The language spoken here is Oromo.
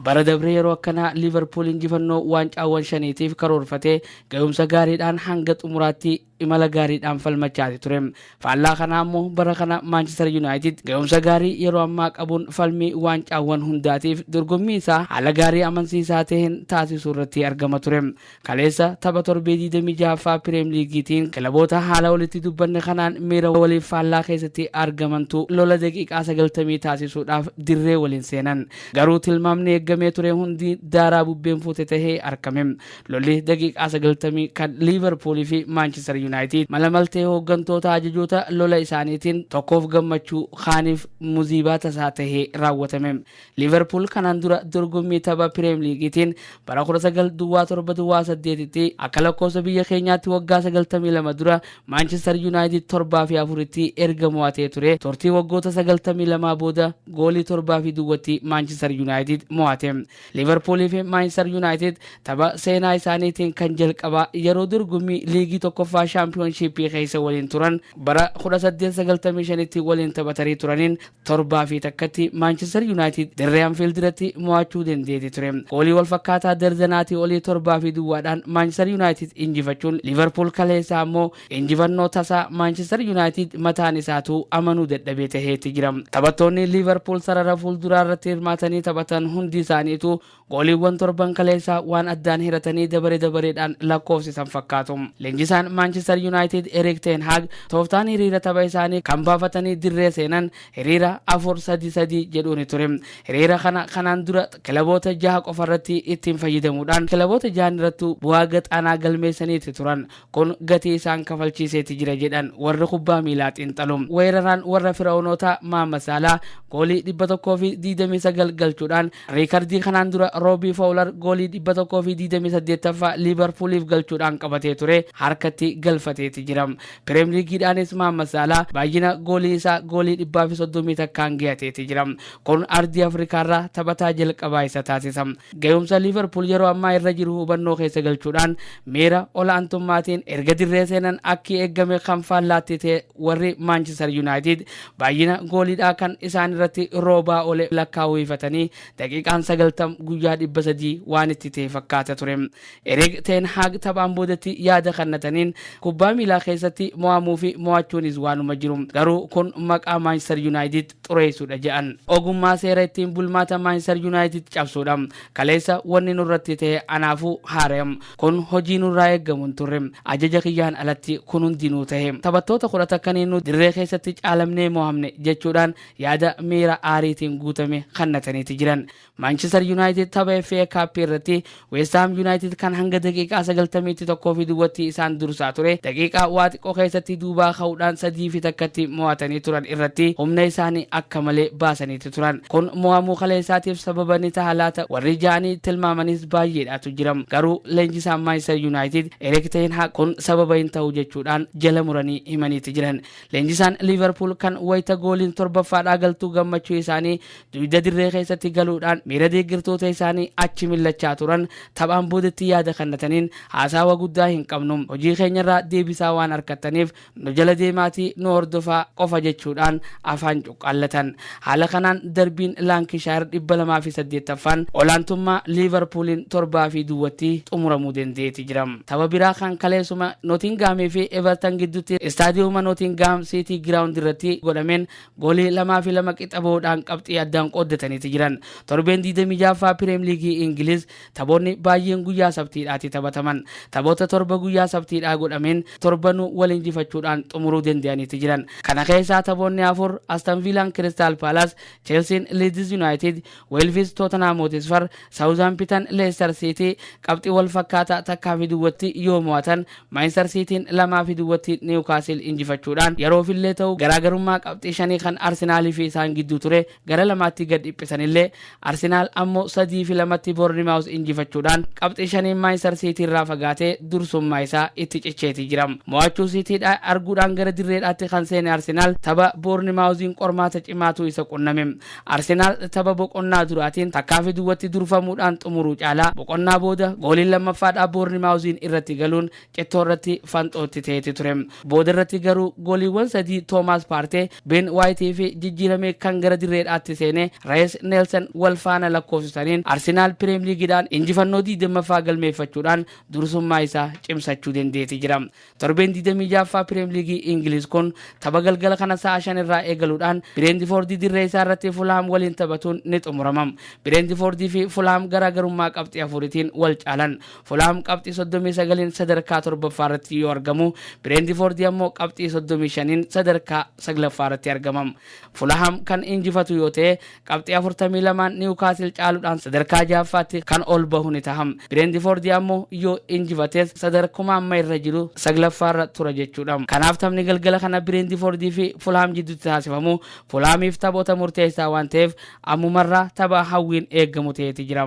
Bara dabre yeroo akkanaa Liivarpuul injifannoo waancaawwan shaniitiif karoorfatee ga'umsa gaariidhaan hanga xumuraatti imala gaariidhaan falmachaati ture. Faallaa kanaa immoo bara kana Maanchestar Yuunaayitid ga'umsa gaarii yeroo ammaa qabuun falmii waancaawwan hundaatiif dorgommii isaa haala gaarii amansiisaa ta'een taasisuu irratti argama ture. Kaleessa tapha torbee 26ffaa Pireem Liigiitiin kilaboota haala olitti dubbanne kanaan miira waliif faallaa keessatti argamantu lola daqiiqaa 90 taasisuudhaaf dirree waliin seenan. Garuu tilmaamni eeggamee ture hundi daaraa bubbeen fuute tahee arkame. Lolli daqiiqaa 90 kan Liiverpuul fi Maanchister Yunaayitiid mala maltee hooggantoota ajajoota lola isaaniitiin tokkoof gammachuu kaaniif muziibaa tasaa tahee raawwatame. Liiverpuul kanaan dura dorgommii tapha Pireem Liigiitiin bara 19 duwwaa 7 duwwaa 8tti akka lakkoofsa biyya keenyaatti waggaa 92 dura Maanchestar Yuunaayitid 7 fi 4tti erga mo'atee ture turtii waggoota 92 booda goolii 7 fi duwwatti Maanchestar Yuunaayitid mo'ate. Liiverpuulii fi Maanchestar Yuunaayitid tapha seenaa isaaniitiin kan jalqabaa yeroo dorgommii liigii tokkoffaa shaampiyoonshiippii keessa waliin turan bara 1895tti waliin taphatanii turaniin torbaa fi takkatti Maanchester Yuunaayitid dirree Anfiild irratti mo'achuu dandeeti ture. Goolii wal fakkaataa dardanaatii olii torbaa fi duwwaadhaan Maanchester Yuunaayitid injifachuun Liivarpuul kaleessaa ammoo injifannoo tasaa Maanchester Yuunaayitid mataan isaatu amanuu dadhabee taheeti jira. Taphattoonni Liivarpuul sarara fuulduraa irratti hirmaatanii taphatan hundi isaaniitu Gooliiwwan torban kaleessaa waan addaan hiratanii dabare dabareedhaan lakkoofsisan fakkaatu. Leenjisaan Maanchister Yuunaayitid Erik Teen Haag tooftaan hiriira tapha isaanii kan baafatanii dirree seenan hiriira 4-3-3 jedhuuni ture. Hiriira kana kanaan dura kilaboota jaha qofarratti ittiin fayyadamuudhaan kilaboota jahanirrattuu bu'aa gad aanaa galmeessaniiti turan. Kun gatii isaan kafalchiiseeti jira jedhan warri kubbaa miilaa xiinxalu. Weeraraan warra Fira'oonootaa Maama Saalaa goolii 129 galchuudhaan riikardii kanaan dura Roobii Fowular goolii 128ffaa Liivarpuuliif galchuudhaan qabatee ture harkatti galfateeti jira. Pireemliigiidhaanis Maama Saalaa baay'ina goolii isaa goolii 131n gayateeti jira. Kun ardii Afrikaarraa taphataa jalqabaa isa taasisa. Gahumsa Liiverpuul yeroo ammaa irra jiru hubannoo keessa galchuudhaan miira ol'aantummaatiin erga dirree seenan akki eeggame kan faallaatti ta'e warri Maanchister Yuunaayitid baay'ina gooliidhaa kan isaan irratti roobaa ole lakkaa'uu hifatanii daqiiqaan 90 guyyaa 300 waan itti ta'e fakkaata ture. Erik Teen Haag taphaan boodatti yaada kannataniin kubbaa miilaa keessatti mo'amuu fi mo'achuunis waanuma jiru. Garuu kun maqaa Maanchister Yuunaayitid xureessuudha jedhan. Ogummaa seera ittiin bulmaata Maanchistar Yuunaayitid cabsuudha. Kaleessa wanni nurratti ta'e anaafuu haaraya. Kun hojii nurraa eeggamu hin turre. Ajaja kiyyaan alatti kun hundinuu ta'e. Taphattoota kudha takkaniin nu dirree keessatti caalamnee mo'amne jechuudhaan yaada miira aariitiin guutame kannataniiti jiran. Maanchister Yuunaayitid tapha FA Cup irratti Weestaam Yuunaayitid kan hanga daqiiqaa 91 fi duwwatti isaan dursaa ture daqiiqaa waa xiqqoo keessatti duubaa ka'uudhaan sadii fi takkatti mo'atanii turan irratti humna isaanii akka malee baasaniiti turan. Kun mo'amuu kaleessaatiif sababa ni taha laata warri ja'anii tilmaamanis baay'eedhaatu jiram. Garuu leenjisaan Maanchister Yuunaayitid Erik Ten Hag kun sababa hin ta'u jechuudhaan jala muranii himaniiti jiran. Leenjisaan Liiverpuul kan wayita gooliin torbaffaadhaa galtuu gammachuu isaanii Duyda dirree keessatti galuudhaan miira deeggartoota isaanii achi millachaa turan taphaan boodatti yaada kannataniin haasaawa guddaa hin qabnu. Hojii keenyarraa deebisaa waan arkattaniif nu jala deemaatii nu hordofaa qofa jechuudhaan afaan cuqqaallatan. Haala kanaan darbiin Laankishaayir 208ffaan olaantummaa Liivarpuuliin 7 fi duwwatti xumuramuu dendeeti jira. Tapha biraa kan kaleessuma Notingaamii fi Evertan giddutti Istaadiyuuma Notingaam Siitii Giraawundi irratti godhameen Goolii lamaa fi lama qixa bahuudhaan qabxii addaan qooddataniiti jiran. Torbeen 26ffaa Pireem Liigii Ingiliz taphoonni baay'een guyyaa sabtiidhaati taphataman. Taphoota torba guyyaa sabtiidhaa godhameen torbanuu wal injifachuudhaan xumuruu danda'aniiti jiran. Kana keessaa taphoonni afur Aston Viilaan Kiristaal Paalaas, Cheelsiin Liidiz Yunaayitid, Weelvis Tootanhaam Hotisfar, Saawuzhaampitan Leestar Siitii qabxii wal fakkaataa takkaa fi duwwatti yoo mo'atan, Maanchistar Siitiin lamaa fi duwwatti Niwukaasiil injifachuudhaan yeroofillee ta'u garaagarummaa qabxii shanii kan Arsenaalii fi isaan gidduu ture gara lamaatti gad dhiphisanillee, Arsenaal ammoo sadii fi lamatti Boornimaawuz injifachuudhaan qabxii shaniin Maanchistar Siitiirraa fagaatee dursummaa isaa itti cicheeti jira. Mo'achuu Siitiidha arguudhaan gara dirreedhaatti kan seene Arsenaal tapha Boornimaawuziin qormaata cimaatu isa qunname. Arsenaal tapha boqonnaa duraatiin takkaafi duwwatti durfamuudhaan xumuruu caalaa boqonnaa booda gooliin lammaffaadhaa Boornimaawuziin irratti galuun cittoo irratti fanxoo itti ta'eeti ture. Booda irratti garuu gooliiwwan sadii Toomaas Paartee, Been Waayitii fi jijjiiramee kan gara dirreedhaatti seene Rees Neelsan wal faana lakkoofsisaniin Arsenaal Pireemliigiidhaan injifannoo 20ffaa galmeeffachuudhaan dursummaa isaa cimsachuu dandeeti jira. Torbeen 26ffaa Piriim Liigii Ingiliz kun tapha galgala kana sa'a 5 irraa eegaluudhaan Bireendifoordii dirree isaa irratti Fulhaam waliin taphatuun ni xumurama. Bireendifoordii fi Fulhaam garaagarummaa qabxii afuritiin wal caalan. Fulhaam qabxii 39n sadarkaa 7ffaa irratti yoo argamu, Bireendifoordii ammoo qabxii 35n sadarkaa 9ffaa irratti argama. Fulhaam kan injifatu yoo ta'e Qabxii 42n Niwukaasil caaludhaan sadarkaa 6ffaatti kan ol bahu ni taha. Bireentifoordi ammoo yoo injifates sadarkuma amma irra jiru 9ffaarra tura jechuudha. Kanaaf taphni galgala kana Bireentifoordii fi Fulhaam jidduutti taasifamu Fulhaamiif taphoota murteessaa waan taheef ammumarraa tapha hawwiin eegamu taheeti jira.